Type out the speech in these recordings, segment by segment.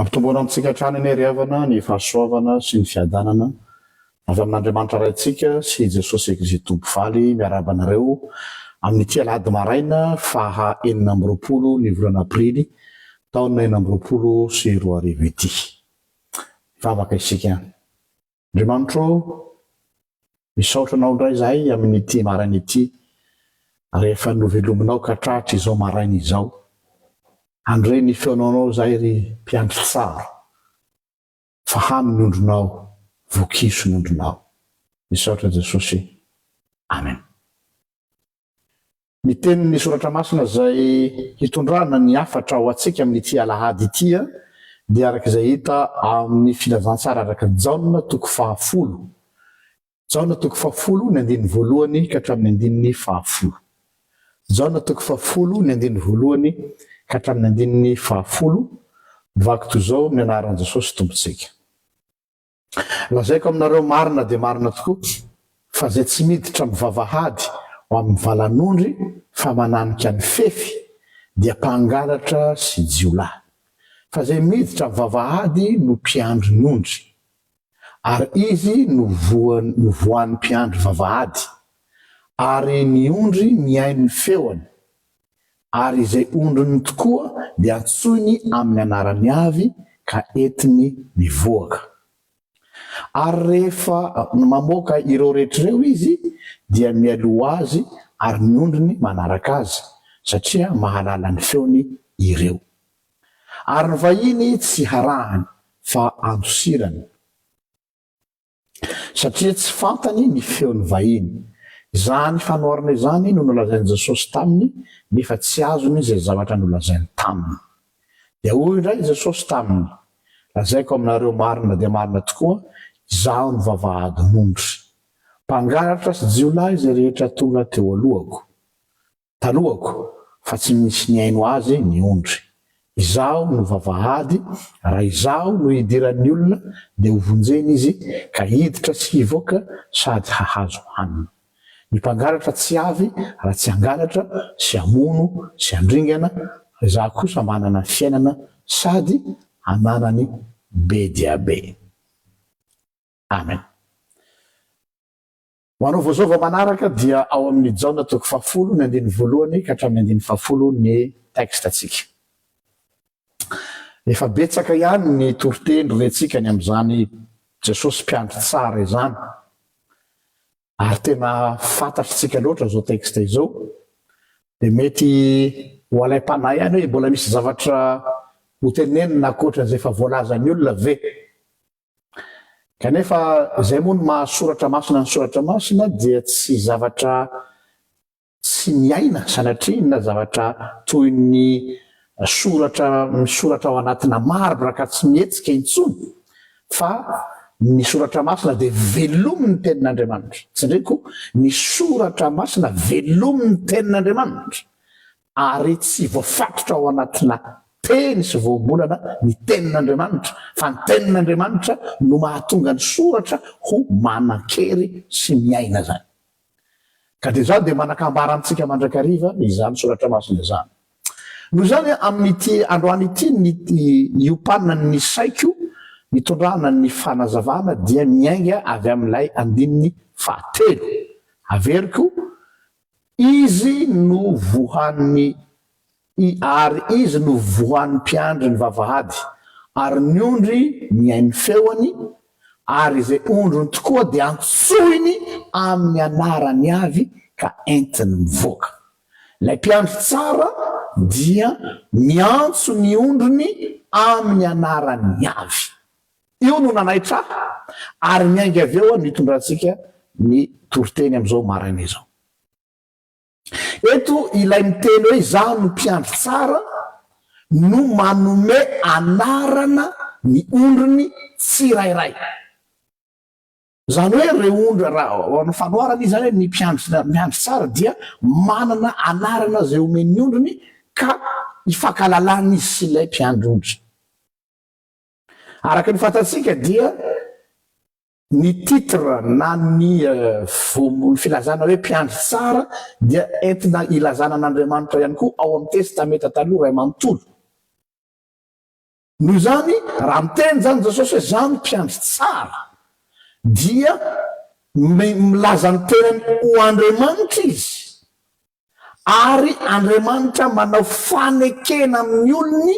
Ampitomboana amintsika hatrany anie ry havana ny fahasoavana sy ny fiadanana avy amin'Andriamanitra Raintsika sy i Jesosy Kzito Mpivaly miarahaba anareo amin'ity Alahady maraina faha enina amby roapolo ny volana Aprily taona enina amby roapolo sy roa arivo ity. Hivavaka isika. Andriamanitro ô, misaotra Anao indray izahay amin'ity maraina ity, rehefa novelominao ka tratra izao maraina izao. Handre ny feonanao izahay ry mpiandry tsara, fa hano ny ondrinao, vokiso ny ondrinao. Misaotra Jesosy. Amen. Ny tenin'ny Soratra Masina izay hitondrana ny hafatra ho antsika amin'ity alahady ity dia araka izay hita ao amin'ny Filazantsara araka an'i Jaona toko fahafolo. Jaona toko fahafolo ny andininy voalohany ka hatramin'ny andininy fahafolo. Jaona toko fahafolo ny andininy voalohany ka hatramin'ny andininy fahafolo, Vaky toy izao ny anaran'i Jesosy Tompontsika. Lazaiko aminareo marina dia marina tokoa, fa izay tsy miditra mivavahady ao amin'ny valan'ondry fa mananika ny fefy, dia mpangalatra sy jiolahy. Fa izay miditra mivavahady no mpiandry ny ondry, ary izy no voan no voan'ny mpiandry vavahady, ary ny ondry mihaino ny feony, ary izay ondriny tokoa dia antsoiny amin'ny anarany avy ka entiny mivoaka. Ary rehefa mamoaka ireo rehetra ireo izy dia mialoha azy ary ny ondriny manaraka azy satria mahalala ny feony ireo. Ary ny vahiny tsy harahany fa andosirany. satria tsy fantany ny feon'ny vahiny. Izany fanoharana izany no nolazain'i Jesosy taminy, nefa tsy azony izay zavatra nolazainy taminy. Dia hoy indray i Jesosy taminy, Lazaiko aminareo marina dia marina tokoa, Izaho no vavahadin'ondry. Mpangalatra sy jiolahy izay rehetra tonga teo alohako. Taloako fa tsy misy nihaino azy ny ondry. Izaho no vavahady, raha izaho no idiran'ny olona dia hovonjena izy ka hiditra sy hivoaka sady hahazo hanina. Ny mpangalatra tsy avy raha tsy hangalatra sy hamono sy handringana, fa izaho kosa manana fiainana sady ananany be dia be. Amen. Ho anao vao zao vao manaraka dia ao amin'ny Jaona toko fahafolo ny andininy voalohany ka hatramin'ny andininy fahafolo ny texte ntsika. Efa betsaka ihany ny toriteny rentsika ny amin'izany Jesosy mpiandry tsara izany ary tena fantatritsika loatra izao texte izao dia mety ho alaim-panahy ihany hoe mbola misy zavatra ho tenenina ankoatran'izay efa voalazan'ny olona ve? Kanefa izay moa no maha soratra masina ny soratra masina dia tsy zavatra tsy miaina sanatria na zavatra toy ny soratra misoratra ao anatina marbre ka tsy mihetsika intsony fa ny soratra masina dia velomin'ny tenin'Andriamanitra. Tsindriko, ny soratra masina velomin'ny tenin'Andriamanitra. Ary tsy voafatotra ao anatina teny sy voambolana ny Tenin'Andriamanitra, fa ny Tenin'Andriamanitra no mahatonga ny soratra ho manan-kery sy miaina izany. Ka dia izany dia manakambara amintsika mandrakariva izany soratra masina izany. Noho izany, amin'ity androany ity, ny iopanan'ny saiko itondrana ny fanazavana dia miainga avy amin'ilay andininy fahatelo. Averiko Izy no voan'ny i ary izy no voan'ny mpiandry ny vavahady, ary ny ondry mihaino ny feony, ary izay ondriny tokoa dia antsoiny amin'ny anarany avy ka entiny mivoaka. Ilay mpiandry tsara dia miantso ny ondriny amin'ny anarany avy. Io no nanaitra ahy ary miainga avy eo no itondrantsika ny toriteny amin'izao maraina izao. Eto ilay miteny hoe izaho no mpiandry tsara no manome anarana ny ondriny tsirairay. Izany hoe ireo ondry, raha ho an'ny fanoharana izy izany hoe ny mpiandry tsara dia manana anarana izay omen'ny ondriny ka ifankahalalana izy sy ilay mpiandry ondry. Araka ny fantatsika dia ny titre na ny voambolon'ny filazana hoe mpiandry tsara dia entina ilazana an'Andriamanitra ihany koa ao amin'ny Testamenta Taloha iray manontolo. Noho izany, raha miteny izany Jesosy hoe izaho no mpiandry tsara dia milaza ny tenany ho Andriamanitra izy Ary Andriamanitra manao fanekena amin'ny olony,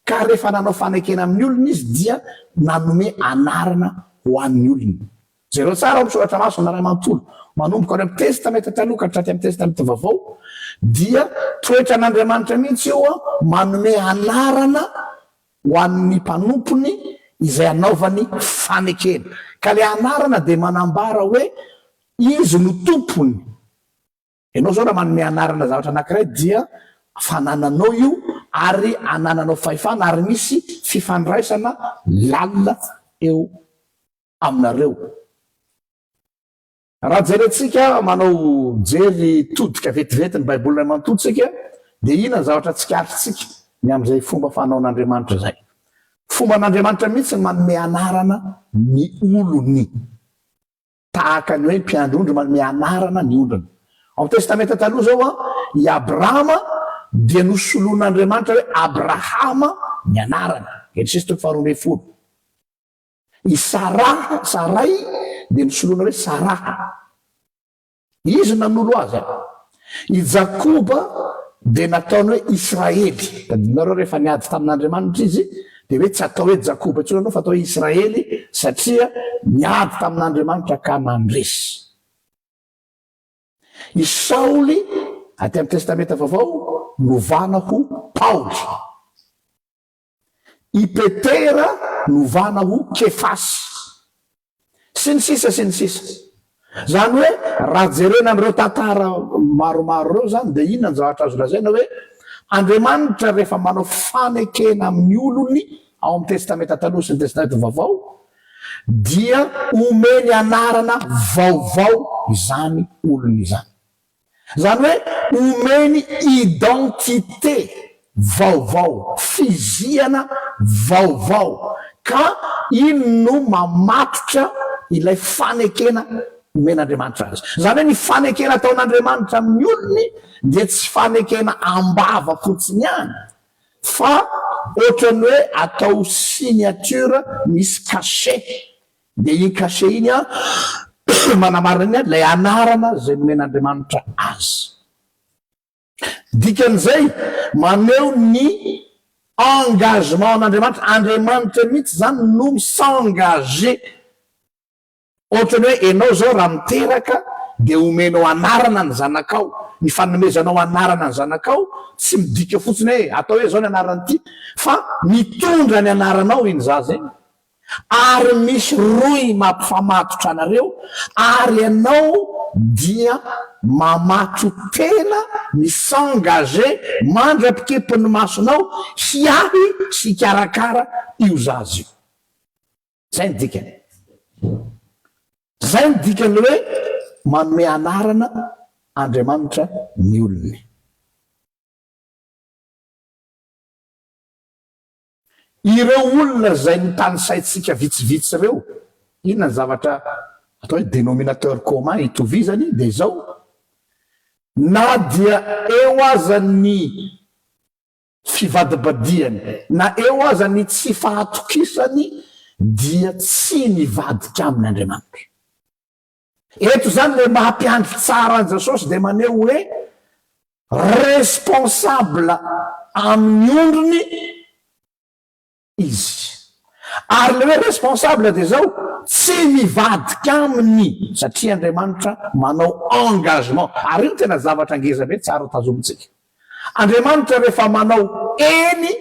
ka rehefa nanao fanekena amin'ny olony Izy dia nanome anarana ho an'ny olony. Jereo tsara ao amin'ny Soratra Masina iray manontolo, manomboka ao amin'ny Testamenta Taloha ka hatraty amin'ny Testamenta Vaovao, dia toetran'Andriamanitra mihitsy io an, manome anarana ho an'ny mpanompony izay anaovany fanekena. Ka ilay anarana dia manambara hoe Izy no tompony. Ianao izao raha manome anarana zavatra anankiray dia fanananao io ary anananao fahefana ary misy fifandraisana lalina eo aminareo. Raha jerentsika manao jery todika vetivety ny Baiboly iray manontolo tsika dia inona ny zavatra tsikaritrisika ny amin'izay fomba fanaon'Andriamanitra izay? Fomban'Andriamanitra mihitsy ny manome anarana ny olony. Tahaka ny hoe mpiandry ondry manome anarana ny ondriny. Ao amin'ny Testamenta Taloha izao, i Abrahama dia nosoloin'Andriamanitra hoe Abrahama ny anarany, Genesisy toko faharoa ambin'ny folo. I Saraha, Saray, dia nosoloina hoe Saraha. Izy nanolo azy. I Jakoba dia nataony hoe Israely. Tadidinareo, rehefa niady tamin'Andriamanitra izy, dia hoe tsy atao hoe Jakoba intsony ianao fa atao hoe Israely, satria niady tamin'Andriamanitra ka nandresy. I Saoly, aty amin'ny Testamenta Vaovao, novana ho Paoly. I Petera novana ho Kefasy. Sy ny sisa sy ny sisa. Izany hoe raha jerena an'ireo tantara maromaro ireo izany dia inona no zavatra azo lazaina hoe Andriamanitra rehefa manao fanekena amin'ny olony ao amin'ny Testamenta Taloha sy ny Testamenta Vaovao dia omeny anarana vaovao izany olony izany. Izany hoe omeny identité vaovao, fizihana vaovao, ka iny no mamatotra ilay fanekena omen'Andriamanitra azy. Izany hoe ny fanekena ataon'Andriamanitra amin'ny olony dia tsy fanekena am-bava fotsiny ihany, fa ohatran'ny hoe atao signature misy cachet Dia iny cachet iny manamarina ny ilay anarana izay nomen'Andriamanitra azy. Dikan'izay, maneho ny engagement an'Andriamanitra. Andriamanitra mihitsy izany no mi-s'engager. Ohatra ny hoe ianao izao raha miteraka dia homenao anarana ny zanakao. Ny fanomezanao anarana ny zanakao tsy midika fotsiny hoe atao hoe izao ny anaran'ity fa mitondra ny anaranao iny zaza iny. Ary misy rohy mampifamatotra anareo, ary ianao dia mamaky tena mi s'engager mandra-pikipy ny masonao hiahy sy hikarakara io zaza io. Izay no dikany. Izay no dikan'ny hoe manome anarana Andriamanitra ny olony. Ireo olona izay notanisaintsika vitsivitsy ireo, inona ny zavatra atao hoe dénominateur commun itovizany? Dia izao, na dia eo aza ny fivadibadihany, na eo aza ny tsy fahatokisany, dia tsy nivadika aminy Andriamanitra. Eto izany ilay maha mpiandry tsara an'i Jesosy dia maneho hoe responsable amin'ny ondriny Izy. Ary ilay hoe responsable dia izao, tsy mivadika aminy satria Andriamanitra manao engagement. Ary io no tena zavatra ngeza be tsara tazomintsika. Andriamanitra rehefa manao eny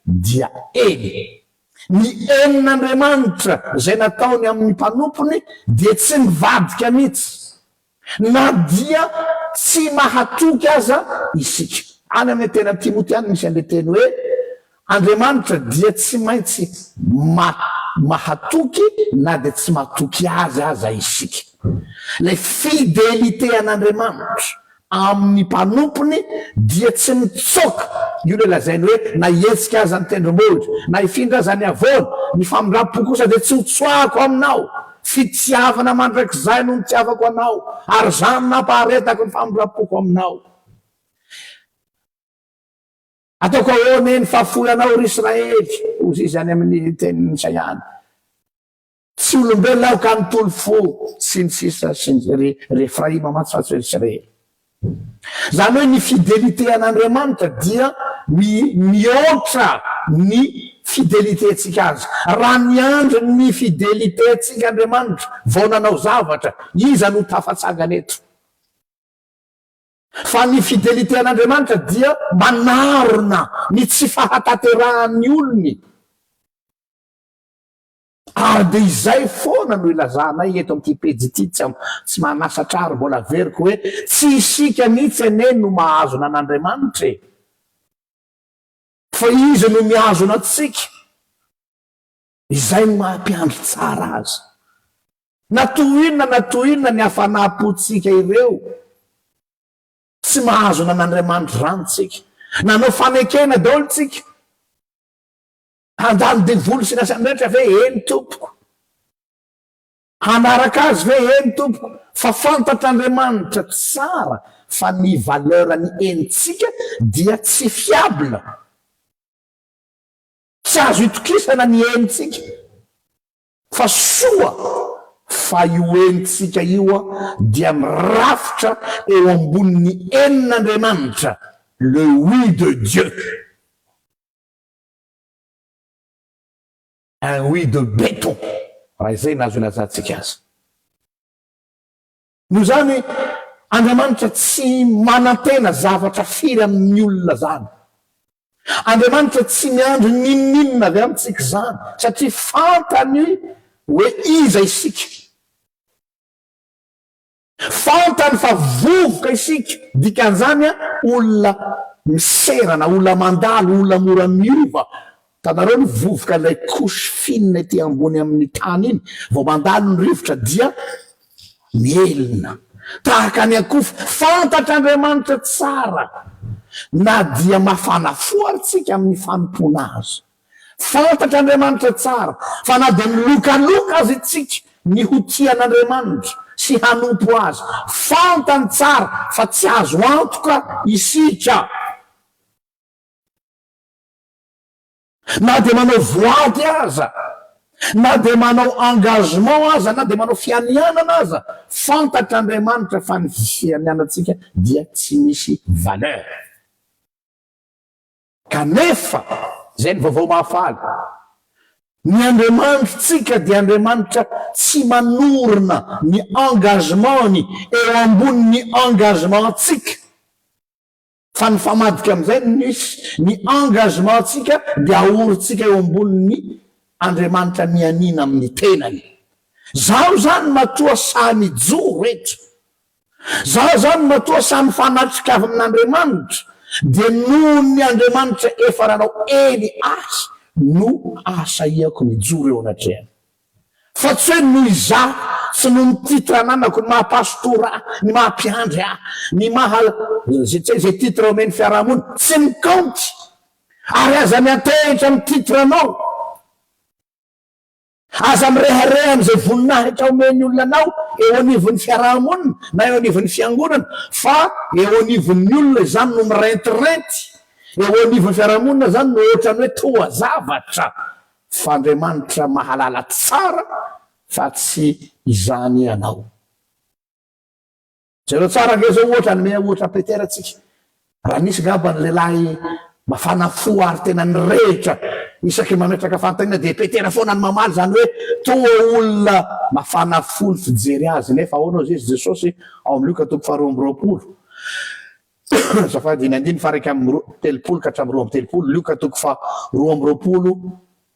dia eny. Ny henin'Andriamanitra izay nataony amin'ny mpanompony dia tsy mivadika mihitsy, na dia tsy mahatoky aza isika. Any amin'ny teny amin'ny Timoty any misy an'ilay teny hoe Andriamanitra dia tsy maintsy ma mahatoky na dia tsy matoky Azy aza isika. Ilay fidelite an'Andriamanitra amin'ny mpanompony dia tsy nitsoaka io ilay lazainy hoe na hihetsika aza ny tendrombohitra, na hifindra aza ny havoana, ny famindram-po kosa dia tsy hotsoahako aminao, fitiavana mandrakizay no nitiavako anao, ary izany nampaharetako ny famindram-poko aminao. Ataoko ahoana eny fa foy anao ry Israely, hoy izy any amin'ny tenin'Isaia any. Tsy olombelona aho ka nitoly fo sy ny sisa sy ny ry Refraima mantsy fa tsy hoe Israely. Izany hoe ny fidelite an'Andriamanitra dia mihoatra ny fidelitentsika azy. Raha niandry ny fidelitentsika Andriamanitra vao nanao zavatra, iza no tafatsangana eto? Fa ny fidelite an'Andriamanitra dia manarona ny tsy fahatanterahan'ny olony. Ary dia izay foana no ilazanay eto amin'ity pejy ity, tsy tsy manasatra ary mbola averiko hoe tsy isika mihitsy anie no mahazona an'Andriamanitra e! Fa Izy no mihazona antsika, izay no maha-mpiandry tsara azy. Na toy inona na toy inona ny hafanam-pontsika ireo, tsy mahazona an'Andriamanitra izany isika. Nanao fanekena daholo isika. Handalo devoly sy ny asany rehetra ve? Eny tompoko. Hanaraka azy ve? Eny tompoko. Fa fantatr'Andriamanitra tsara fa ny valeur ny enitsika dia tsy fiable. Tsy azo itokisana ny enitsika. Fa soa fa io enitsika io dia mirafitra eo ambonin'ny enin'Andriamanitra, le oui de Dieu. Un oui de béton, raha izay no azo ilazantsika azy. Noho izany, Andriamanitra tsy manantena zavatra firy amin'ny olona izany. Andriamanitra tsy miandry n'inon'inona avy amintsika izany, satria fantany hoe iza isika. Fantany fa vovoka isika, dikan'izany olona miserana, olona mandalo, olona mora miova. Hitanareo ny vovoka, ilay couche fine ety ambony amin'ny tany iny, vao mandalo ny rivotra dia mielina tahaka ny akofa. Fantatr'Andriamanitra tsara na dia mafana fo ary tsika amin'ny fanompoana Azy. Fantatr'Andriamanitra tsara fa na dia milokaloka aza isika ny ho tia an'Andriamanitra sy hanompo Azy, fantany tsara fa tsy azo antoka isika. Na dia manao voady aza, na dia manao engagement aza, na dia manao fianianana aza, fantatr'Andriamanitra fa ny fianianantsika dia tsy misy valeur. Kanefa, izay ny Vaovao Mahafaly, ny Andriamanitsika dia Andriamanitra tsy manorina ny engagement-ny eo ambonin'ny engagement-tsika, fa nifamadika amin'izay ny misy, ny engagement-tsika dia ahorintsika eo ambonin'ny Andriamanitra nianiana amin'ny tenany. Izaho izany matoa sahy mijoro eto. Za zany matoa samy fanatrika avy amin'Andriamanitra dia noho ny Andriamanitra efa nanao eny ahy no ahasahiako mijoro eo anatrehany. Fa tsy hoe noho izaho sy noho ny titre ananako, ny maha pastora ahy, ny maha mpiandry ahy, ny maha zay tsy hay zay titre omen'ny fiaraha-mony, tsy mikaonty. Ary aza miantehitra amin'ny titre anao. Aza mirehareha amin'izay voninahitra omen'ny olona anao eo anivon'ny fiaraha-monina na eo anivon'ny fiangonana, fa eo anivon'ny olona izany no mirentirenty, eo anivon'ny fiaraha-monina izany no ohatran'ny hoe toa zavatra, f'Andriamanitra mahalala tsara fa tsy izany ianao. Jereo tsara ange zao ohatra hanome ohatra Peter tsika. Raha nisy ngamba ny lehilahy mafana fo ary tena nirehitra isaky ny mametraka fanontaniana dia Peter foana no mamaly zany hoe toa olona mafana fo ny fijery azy nefa ahoana ozy izy Jesosy ao amin'ny Lioka toko faharoa amby roapolo azafady ny andiny faha raika amby telopolo ka hatramin'ny roa amby telopolo Lioka toko faharoa amby roapolo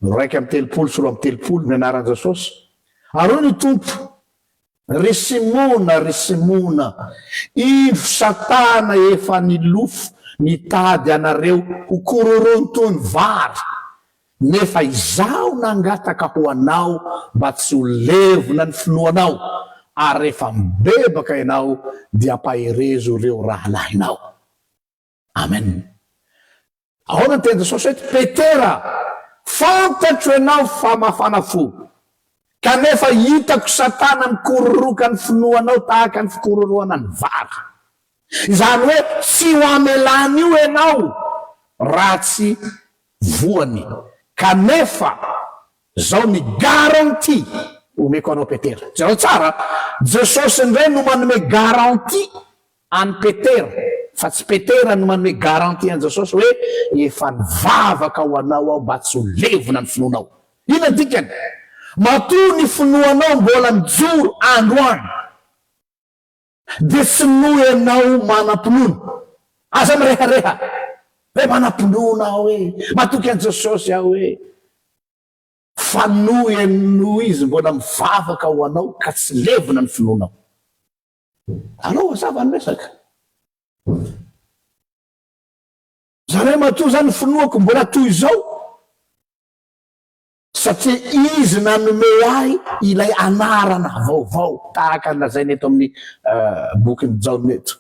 raika amby telopolo sy roa amby telopolo ny anaran'i Jesosy ary hoy ny Tompo Ry Simona, ry Simona, indro Satana efa nilofo nitady anareo ho kororony toy ny vary, nefa izaho nangataka ho anao mba tsy ho levona ny finoanao, ary rehefa mibebaka ianao dia ampaherezo ireo rahalahinao. Amen. Ahoana ny teny Jesosy eto? Petera, fantatro ianao fa mafana fo, kanefa hitako Satana mikororoka ny finoanao tahaka ny fikororohana ny vary. Izany hoe tsy ho amelan'io ianao raha tsy voany. Kanefa izao ny garantie omeko anao Petera. Jereo tsara, Jesosy indray no manome garantie An'i Petera, fa tsy Petera no manome garantie an'i Jesosy hoe, Efa nivavaka ho anao aho mba tsy ho levona ny finoanao. Inona no dikany? Matoa ny finoanao mbola mijoro androany, dia sinoa ianao manam-pinoana. Aza mirehareha hoe, Manam-pinoana aho e! Matoky an'i Jesosy aho e! Fanohy an'io izy mbola mivavaka ho anao ka tsy levona ny finoanao. Alao hazava ny resaka. Zarahy matoa zany finoako mbola toy izao satria izy nanome ahy ilay anarana vaovao tahaka ny lazaina eto amin'ny euh, bokin'i Jaona eto.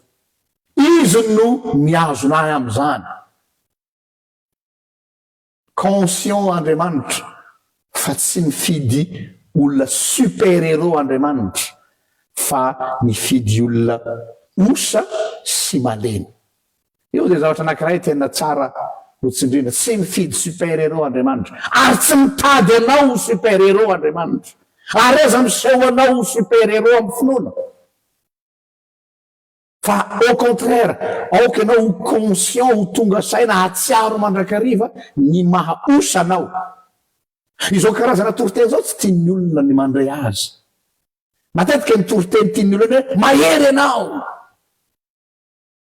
Izy no mihazona ahy amin'izany. Conscient Andriamanitra fa tsy mifidy olona super héros Andriamanitra fa mifidy olona osa sy malemy. Io dia zavatra anankiray tena tsara ho tsindriana. Tsy mifidy super héros Andriamanitra ary tsy mitady anao ho super héros Andriamanitra ary aza miseho anao ho super héros amin'ny finoana. Fa au contraire, aoka ianao ho conscient, ho tonga saina, hahatsiaro mandrakariva ny maha os anao. Izao karazana toriteny izao tsy tian'ny olona ny mandray azy. Matetika ny toriteny tian'ny olona ny hoe mahery ianao,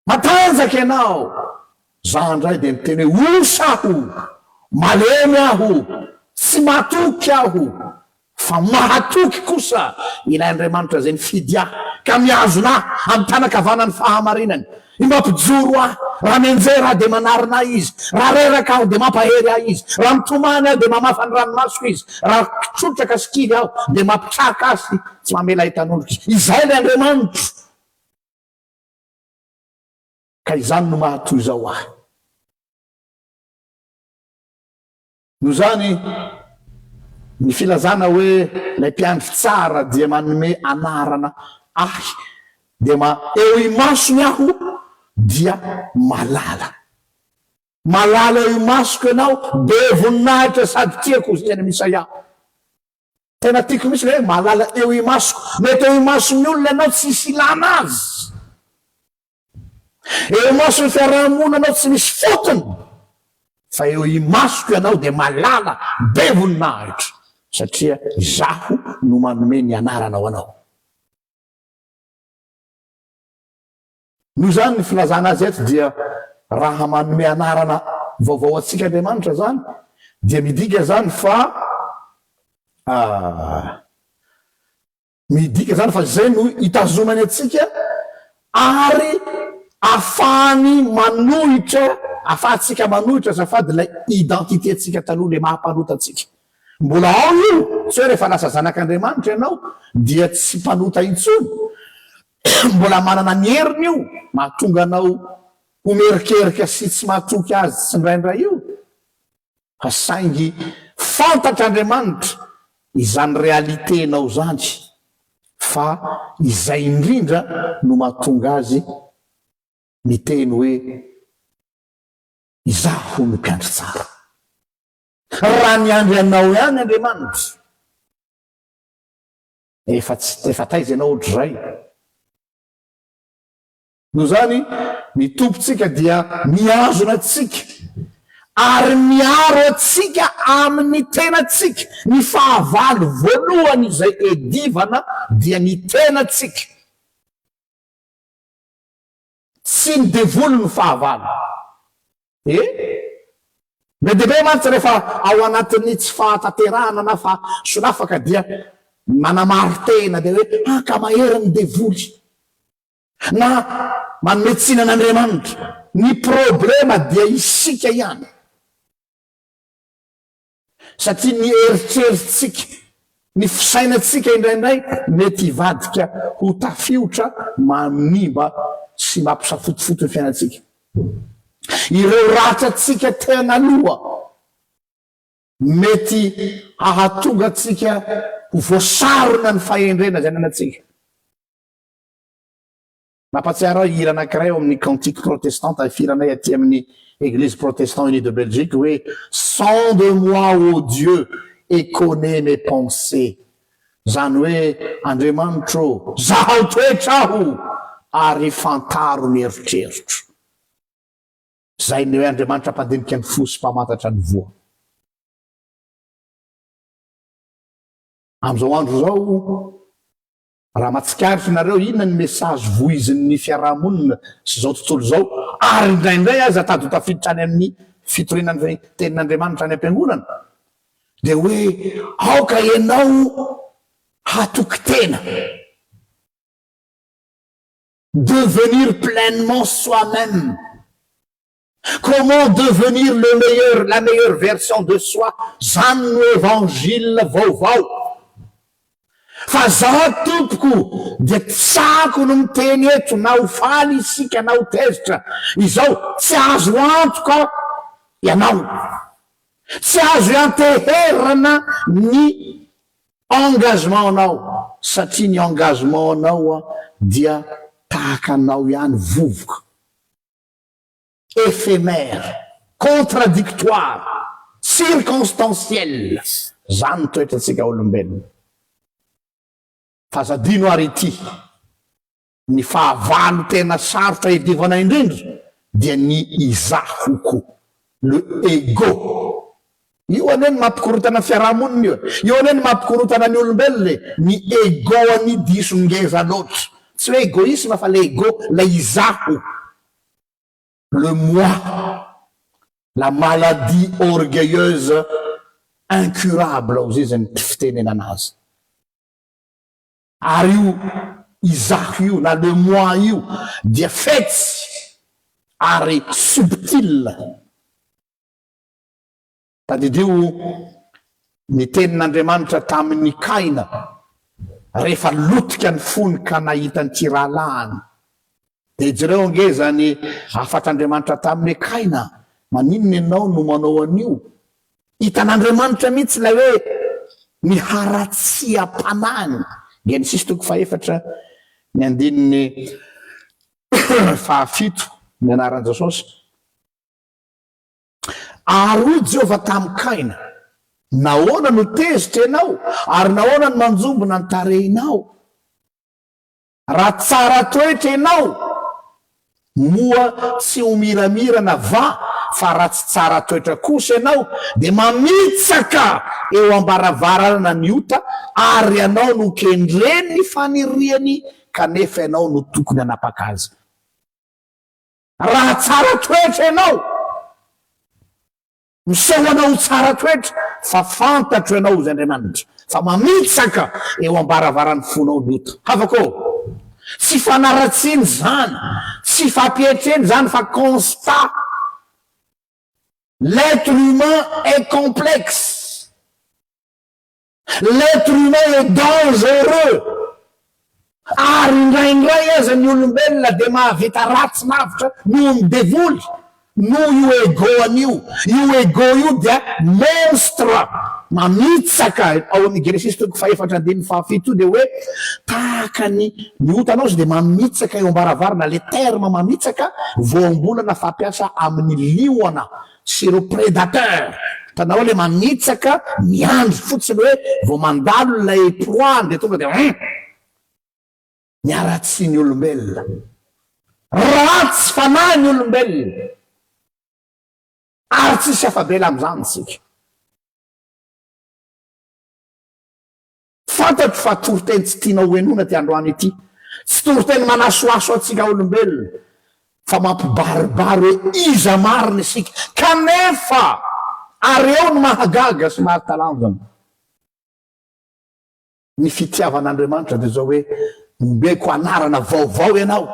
matanjaka ianao, Za indray dia miteny hoe osa aho, malemy aho, tsy matoky aho, fa mahatoky kosa ilay Andriamanitra izay nifidy ahy ka mihazona ahy amin'ny tanan-kavanany fahamarinany, i mampijoro ahy, raha mianjera aho dia manarina ahy izy, raha reraka aho dia mampahery ahy izy, raha mitomany aho dia mamafa ny ranomasoko izy, raha trotraka sy kivy aho dia mampitraka ahy sy tsy mamela hitanondrika. Izay ilay Andriamanitro. Ka izany no maha toy izao ahy. Noho izany, ny filazana hoe ilay mpiandry tsara dia manome anarana ahy, dia ma, eo imasony aho dia malala. Malala eo imasoko ianao, be voninahitra sady tiako, izay any amin'ny Isaia. Tena tiako mihitsy ilay hoe malala eo imasoko. Mety eo imason'ny olona ianao tsy hisy ilana azy. Eo imason'ny fiaraha-monina anao tsy misy fotony, fa eo imasoko ianao dia malala be voninahitra, satria izaho no manome ny anaranao anao. Noho izany ny filazana azy eto dia raha manome anarana vaovao antsika Andriamanitra izany dia midika izany fa ah, Midika izany fa izay no itazonany antsika ary afahany manohitra, afahantsika manohitra azafady ilay identité-ntsika taloha, ilay maha-mpanota antsika. Mbola ao io, tsy hoe rehefa lasa zanak'Andriamanitra ianao dia tsy mpanota intsony. Mbola manana ny heriny io mahatonga anao ho mierikerika sy tsy mahatoky azy tsindraindray io. Fa saingy fantatr'Andriamanitra izany realiténao izany fa izay indrindra no mahatonga azy miteny hoe izaho no mpiandry tsara. Raha miandry anao ihany Andriamanitra efa tsy efa taiza ianao ohatr'izay? Noho izany, ny Tompontsika dia mihazona antsika ary miaro antsika amin'ny tenantsika. Ny fahavalo voalohany izay edivana dia ny tenantsika. Tsy ny devoly no fahavalo. E! Be dia be mantsy rehefa ao anatin'ny tsy fahatanterahana na fahasolafaka dia manamari-tena dia hoe, ah ka mahery ny devoly. Na manome tsiny an'Andriamanitra. Ny problema dia isika ihany. Satria ny eritreritsika, ny fisainantsika indraindray mety hivadika ho tafiotra manimba sy mampisafotofoto ny fiainantsika. Ireo ratrantsika tena aloha mety hahatonga antsika ho voasarona ny fahendrena izay ananantsika. Nampatsiaro ahy hira anankiray ao amin'ny Cantiques Protestants tahifiranay aty amin'ny Eglise Protestant Unis de Belgique hoe Sens de moi ô Dieu et connais mes pensées izany hoe Andriamanitro ô zahaho toetra aho ary fantaro ny eritreritro. Izay ny hoe Andriamanitra mpandinika ny fo sy mpamantatra ny voa. Amin'izao andro izao Raha mahatsikaritra ianareo inona ny message voizin'ny fiarahamonina sy izao tontolo izao, ary indraindray aza tady ho tafiditra any amin'ny fitoriana ny Tenin'Andriamanitra any am-piangonana, dia hoe aoka ianao hatoky tena. Devenir pleinement soi-même. Comment devenir le meilleur, la meilleure version de soi, zany no evangile vaovao fa za tompoko dia tiako ny miteny eto na ho faly isika na ho tezitra izao tsy azo antoka ianao tsy azo ianteherana ny engagement anao satria ny engagement anao dia tahaka anao ihany vovoka éphémère, contradictoire, circonstancielle, zany toetrantsika olombelona. F'aza adino ary ity, ny fahavalo tena sarotra iadivana indrindra dia ny izaho ko, le ego, Io anie no mampikorontana ny fiarahamonina io e! Io anie no mampikorontana ny olombelona e! Ny ego anie diso ngeza loatra! Tsy hoe egoisme fa le ego, ilay izaho, le moi, la maladie orgueilleuse incurable hoy izy ny fitenenana azy. Ary io izaho io na le moi io dia fetsy ary subtil. Tadidio ny tenin'Andriamanitra tamin'i Kaina rehefa lotika ny fony ka nahita ny tsy rahalahiny. Dia jereo ange izany hafatr'Andriamanitra taminy hoe, Kaina, maninona ianao no manao an'io? Hitan'Andriamanitra mihitsy ilay hoe ny haratsiam-panahiny. Genesisy toko fahefatra, ny andininy fahafito, ny anaran'i Jesosy. Ary hoy Jehovah tamin'i Kaina, Nahoana no tezitra ianao, ary nahoana no manjombona ny tarehinao? Raha tsara toetra ianao, moa tsy ho miramirana va? Fa raha tsy tsara toetra kosa ianao, dia mamitsaka eo am-baravarana ny ota, ary ianao no kendren'ny faniriany, kanefa ianao no tokony hanapaka azy. Raha tsara toetra ianao, miseho anao ho tsara toetra fa fantatro ianao, hoy Andriamanitra, fa mamitsaka eo am-baravaran'ny fonao ny ota. Havako ô, tsy fanaratsiana izany, tsy fampietrena izany fa constat. L'être humain est complexe. L'être humain est dangereux ary indraindray aza ny olombelona dia mahavita ratsy lavitra noho ny devoly, noho io ego-ny io. Io ego io dia monstre mamitsaka, ao amin'ny Genesisy toko fahefatra andininy fahafito io dia hoe tahaka ny ny otana ozy dia mamitsaka eo am-baravarana, le terme mamitsaka voambolana fampiasa amin'ny liona. sy ireo predateurs hitanao ilay manitsaka miandry fotsiny hoe vao mandalo ilay proie-ny dia tonga dia hum ny haratsian'ny olombelona ratsy fanahy ny olombelona ary tsisy afa-bela amin'izany isika. Fantatro fa toriteny tsy tianao hohenoina ity androany ity. Tsy toriteny manasohaso antsika olombelona, fa mampibaribary hoe iza marina isika. Kanefa, ary eo no mahagaga sy mahatalanjona, ny fitiavan'Andriamanitra dia izao hoe, Ombeko anarana vaovao ianao.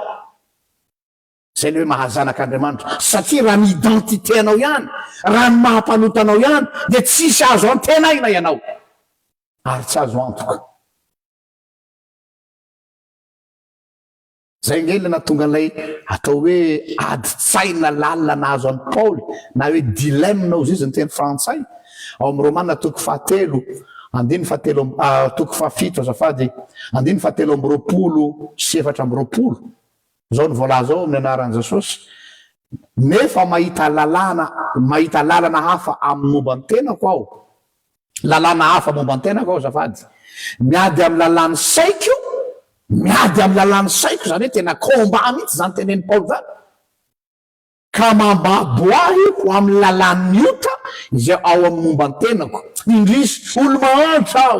Izay ny hoe maha-zanak'Andriamanitra. Satria raha ny identité anao ihany, raha ny maha-mpanota anao ihany, dia tsisy azo antenaina ianao, ary tsy azo antoka. Izay ange ilay nahatonga an'ilay atao hoe adin-tsaina lalina nahazo an'i Paoly, na hoe dilemme na ozizy ny teny frantsay, ao amin'ny Romana toko fahatelo andininy fahatelo amby, ah, toko fahafito azafady, andininy fahatelo amby roapolo sy efatra amby roapolo. Izao no voalaza ao amin'ny anaran'i Jesosy, Nefa mahita lalàna, mahita lalana hafa amin'ny momba ny tenako aho. Lalàna hafa momba ny tenako aho, azafady. Miady amin'ny lalàn'ny saiko, miady amin'ny lalàn'ny saiko, izany hoe tena combat mihitsy izany tenenin'i Paoly izany. Ka mambabo ahy ho amin'ny lalàn'ny ota izay ao amin'ny momba ny tenako. Indrisy, olo-mahantra aho!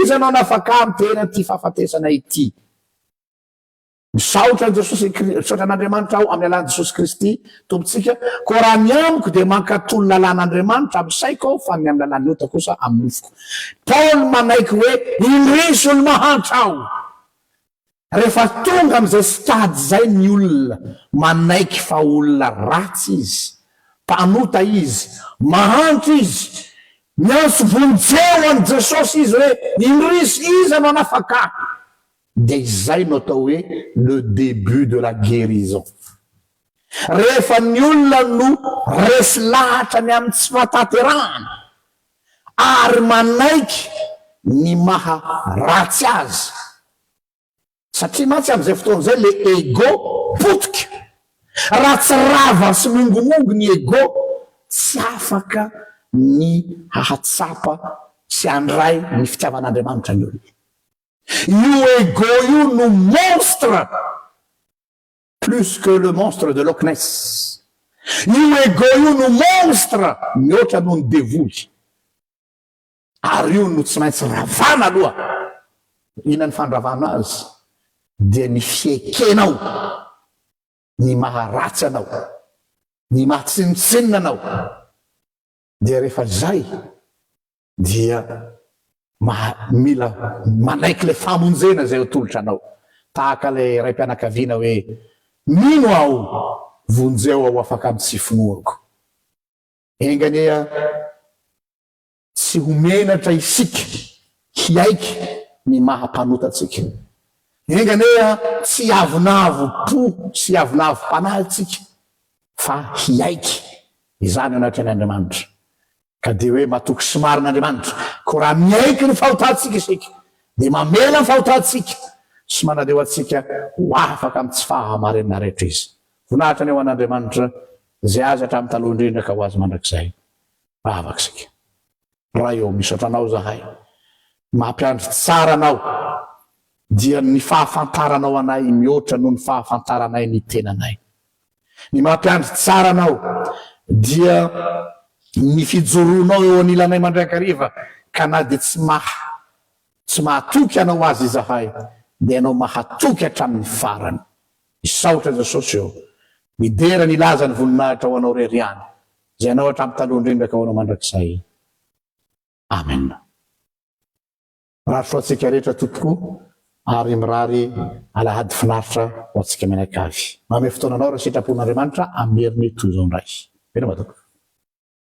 Iza no hanafaka ahy amin'ny teran'ity fahafatesana ity? Misaotra an'i Jesosy Kri- misaotra an'Andriamanitra aho amin'ny alalan'i Jesosy Kristy Tompontsika. Koa raha ny amiko dia mankatò ny lalàn'Andriamanitra amin'ny saiko aho fa ny amin'ny lalàn'ny ota kosa amin'ny nofoko. Paoly manaiky hoe indrisy olo-mahantra aho. Rehefa tonga amin'izay stade izay ny olona, manaiky fa olona ratsy izy, mpanota izy, mahantra izy. Miantso vonjeo an'i Jesosy izy hoe, Indrisy, iza no hanafaka ahy? Dia izay no atao hoe le début de la guérison. Rehefa ny olona no resy lahatra ny amin'ny tsy fahatanterahana ary manaiky ny maha ratsy azy, satria mantsy amin'izay fotoana izay le ego potika, raha tsy rava sy mongomongo ny ego, tsy afaka ny hahatsapa sy handray ny fitiavan'Andriamanitra ny olona. Io ego io no monstre plus que le monstre de loch ness. Io ego io no monstre mihoatra noho ny devoly. Ary io no tsy maintsy ravana aloha. Inona ny fandravana azy? Dia ny fiekenao ny maha ratsy anao, ny maha tsinontsinona anao. dia rehefa izay dia maha, mila manaiky ilay famonjena izay atolotra anao. Tahaka ilay raim-pianakaviana hoe, Mino aho, vonjeo aho afaka amin'ny tsy finoako. Enga anie tsy ho menatra isika hiaiky ny maha mpanota antsika. Enga anie tsy hiavonavo po sy hiavonavo-panahy isika fa hiaiky izany ianao teny Andriamanitra ka dia hoe matoky sy marina Andriamanitra, koa raha miaiky ny fahotantsika isika dia mamela ny fahotantsika sy manaleo antsika ho afaka amin'ny tsy fahamarinana rehetra Izy. Voninahitra anie ho an'Andriamanitra izay azy hatramin'ny taloha indrindra ka ho azy mandrakizay. Vavaka isika. Ray ô, misaotra Anao izahay, mampiandry tsara Anao, dia ny fahafantaranao anay mihoatra noho ny fahafantaranay ny tenanay. Ny mampiandry tsara Anao dia ny fijoroanao eo anilanay mandrakariva, ka na dia tsy maha, tsy mahatoky Anao aza izahay, dia Ianao mahatoky hatramin'ny farany. Misaotra Jesosy ô, midera ny lazan'ny voninahitra ho Anao rery ihany, Ianao hatramin'ny taloha indrindra ka hono mandrakizay. Amen. Mirary soa antsika rehetra tompoko ary mirary alahady finaritra ho antsika mianakavy. Manome fotoana anao raha sitrapon'Andriamanitra amin'ny heriny toy izao indray. Veloma tompoko.